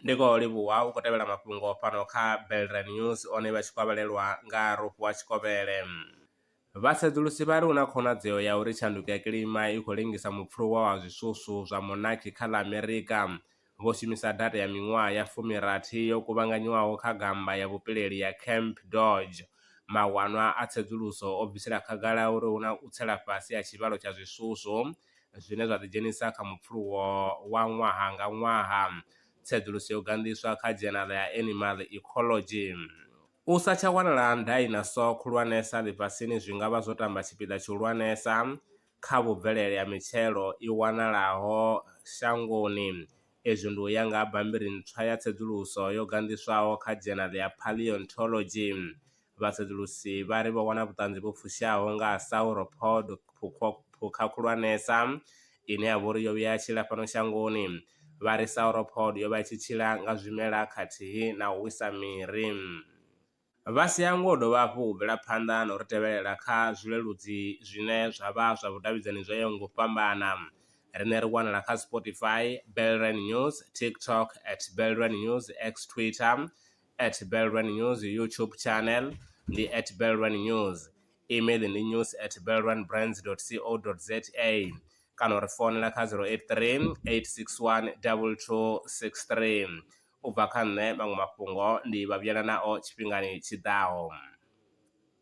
ndi khou livhuwa u khou tevhela mafhungo fhano kha belre news one vha tshi kwavhalelwa nga rofho wa tshikovhele vhasedzulusi vha ri hu na khonadzeo ya uri tshanduko ya kilima i khou lengisa mupfuluwa wa zwiswuswu zwa monaki kha ḽa amerika vho shumisa data ya miṅwaha ya fumi rathi yo kuvhanganywaho kha gammba ya vhupileli ya Camp Dodge, mawanwa a tsedzuluso o bvisela khagala uri hu na u tsela fhasi ha tshivhalo tsha zwiswuswo zwine zwa ḓidzhenisa kha mupfuluwo wa ṅwaha nga ṅwaha. Tsedzuluso yo ganḓiswa kha dzhenala ya Animal Ecology. U sa tsha wanala ha dainasoa khulwanesa ḽifhasini zwi nga vha zwo tamba tshipiḓa tshihulwanesa kha vhubvelele ha mitshelo i wanalaho shangoni. Izwi ndi u ya nga ha bammbiri ntswa ya tsedzuluso yo ganḓiswaho kha dzhenali ya Paleontology. Vhasedzulusi vha ri vho wana vhuṱanzi vhu fushaho nga ha sauropod, phukha khulwanesa ine ya vha uri yo vhuya ya tshila fhano shangoni. Vha ri sauropod yo vha i tshi tshila nga zwimela khathihi na u wisa miri. Vha si hangwe u dovha hafhu u bvela phanḓa na u ri tevhelela kha zwileludzi zwine zwa vha zwa vhudavhidzani zwo yaho nga u fhambana. Riṋe ri wanala kha Spotify, Belrand News, TikTok at Belrand News, X, Twitter at Belrand News, YouTube channel ndi at Belrand News, email ndi news at belrandbrands dot co dot za kana u ri founela kha 083 861 2263. U bva kha nṋe, maṅwe mafhungo ndi vha vhuyela nao tshifhingani tshi ḓaho.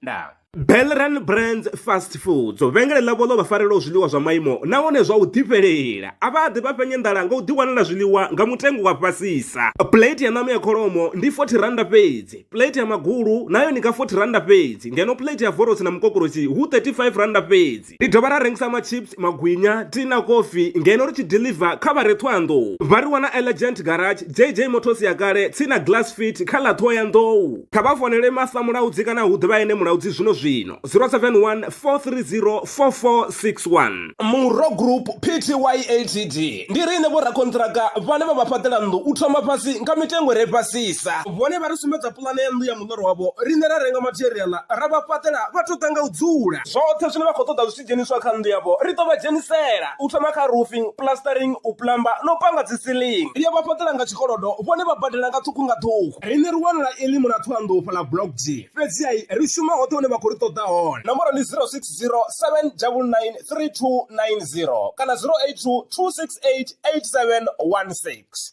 Ndaa. Belran Brands Fast Foods, vhengele ḽavho ḽo vha farelaho zwiḽiwa zwa maimo nahone zwa u ḓifhelela. A vha ḓi vha fhenya nḓala nga u ḓiwanela zwiḽiwa nga mutengo wa fhasisa. Plate ya ṋama ya kholomo ndi R40 fhedzi, plate ya magulu nayo ndi nga R40 fhedzi ngeno plate ya vorosi na mukokoroshi hu R35 fhedzi. Christ. Ri dovha ra rengisa machips, magwinya, tea na kofi ngeno ri tshi deliver kha vha re Ṱhohoyanḓou. Vha ri wana Elegant Garage, JJ Motors ya kale, tsini na Glass Fit kha ḽa Ṱhohoyanḓou. Kha vha founele Martha Mulaudzi kana hu ḓivha ene Mulaudzi zwino-zwino, 071 430 4461. Murro Group Pty Ltd ndi riṋe vhorakonṱiraka vhane vha vha fhaṱela nnḓu u thoma fhasi nga mitengo i re fhasisa. Vhone vha ri sumbedza puḽane ya nnḓu ya muḽoro wavho, riṋe ra renga matheriaḽa ra vha fhaṱela vha tou ḓa nga u dzula. Zwoṱhe zwine vha khou ṱoḓa zwi tshi dzheniswa kha nnḓu yavho, ri ḓo vha dzhenisela, u thoma kha roofing, plastering, u plumber na u panga dzi ceiling. Ri a vha fhaṱela nga tshikolodo, vhone vha badela nga ṱhukhu nga ṱhukhu. Riṋe ri wanala e ḽimu ḽa Thohoyandou fhaḽa Block G. Fhedzi-ha ri shuma hoṱhe hune vha khou ri ṱoḓa hone. Nomboro ndi 0607993290 kana 0822688716.